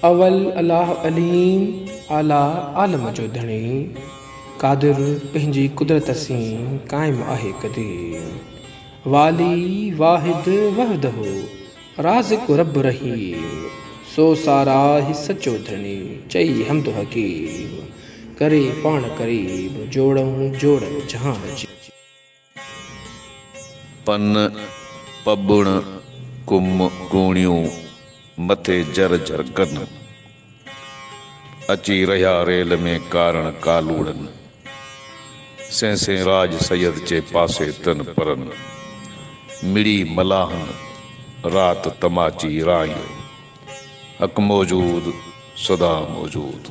اول الاھ عليم اعليٰ عالم جو ڌڻي قادر پنهنجي قدرت سين قائم آهي قديم والي واحد وحده رازق رب رحيم سو ساراهه سچو ڌڻي چئي حمد حڪيم ڪري پاڻ قريب جوڙئون جوڙ جهان جي. پن پٻڻ ڪم ڪوڻيون مٿي جر جر ڪن. اچي رهيا ريل ۾ ڪارڻ ڪالوڙن. سين سين راڄ سيد چي پاسي تن پرن. مڙئي ملاحن رات تماچي رائيو. حق موجود سدا موجود.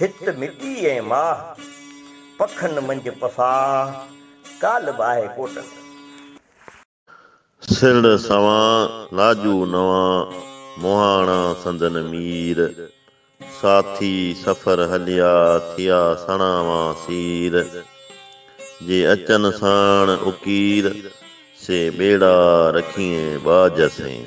هت مٽي ۽ ماهه، پکن منجهه پساهه، ڪالهه به آهي ڪوٽن ۾. سرڙ سوان، ناجو نوان، مهاڻا سندن مير، ساٿي سفر هليا، ٿيا سڻا وان سير. جي اچن ساڻ اڪير، سي ٻيڙا رکيئين ٻاجهه سين.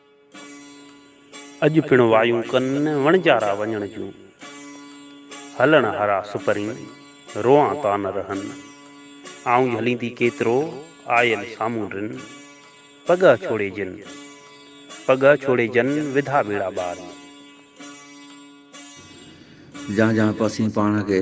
اڄ پڻ وايون ڪن وڻجارا وڃڻ جون، هلڻ هارا سپرين روئان تان رهن. آئون جهليندي ڪيترو آيل سامهون رن، پڳهه ڇوڙي جن، پڳهه ڇوڙي جن وڌا ٻيڙا ٻاري. جهان جهان پاسين پاڻ کي.